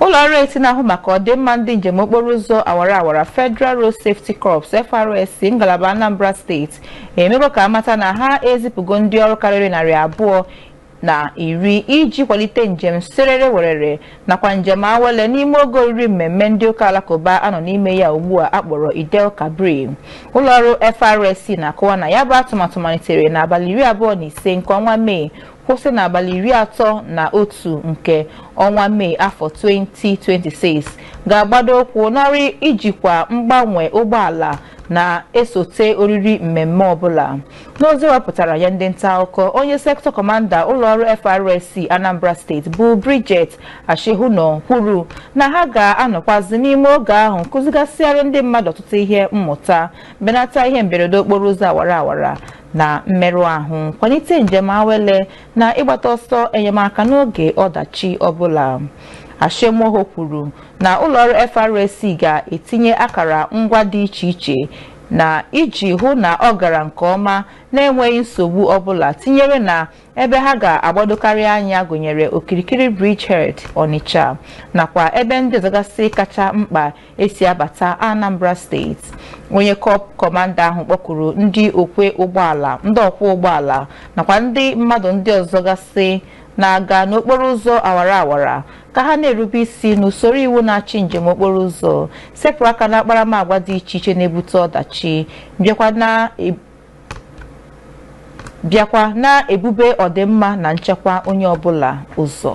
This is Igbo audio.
ụlọ ọrụ etiti na-ahụ maka ọdịmma ndị njem okporo ụzọ awara awara Federal Road Safety Corps FRSC ngalaba Anambra steeti emego ka a mata na ha ezipụgo ndị ọrụ karịrị narị abụọ na iri iji kwalite njem serere werere nakwa njem awele n'ime oge oriri mmemme ndị ụka alakụba a nọ n'ime ya ugbu a a kpọrọ Eid-el-Kabir ụlọọrụ FRSC na-akọwa na ya bụ atụmatụ malitere n'abalị iri abụọ na ise nke ọnwa Mee kwụsị n'abalị iri atọ na otu nke ọnwa Mee afọ 2026 ga-agbado ụkwụ n'ọrụ ijikwa mgbanwe ụgbọala na-esote oriri mmemme ọbụla n'ozi wepụtara nye ndị nta akụkọ onye sektọ kọmanda ụlọọrụ FRSC Anambra steeti bụ Bridget Asekhauno kwuru na ha ga-anọkwazi n'ime oge ahụ kụzigasịara ndị mmadụ ọtụtụ ihe mmụta benata ihe mberede okporo ụzọ awara awara na mmerụ ahụ kwalite njem awele na ịgbata ọsọ enyemaka n'oge ọdachi ọbụla Asekhauno kwuru na ụlọọrụ FRSC ga-etinye akara ngwa dị iche iche na iji hụ na ọ gara nke ọma na-enweghị nsogbu ọbụla tinyere na ebe ha ga-agbadokarị anya gụnyere okirikiri Bridgehead Onitsha nakwa ebe ndị ọzọgasị kacha mkpa e si abata Anambra steeti onye kọp kọmanda ahụ kpọkuru ndị ọkwọ ụgbọala nakwa ndị mmadụ ndị ọzọ gasị na-aga n'okporo ụzọ awara awara ka ha na-erube isi n'usoro iwu na-achị njem okporo ụzọ sepụ aka na akparamagwa dị iche iche na-ebute ọdachi bịakwa na-ebube ọdịmma na nchekwa onye ọbụla ụzọ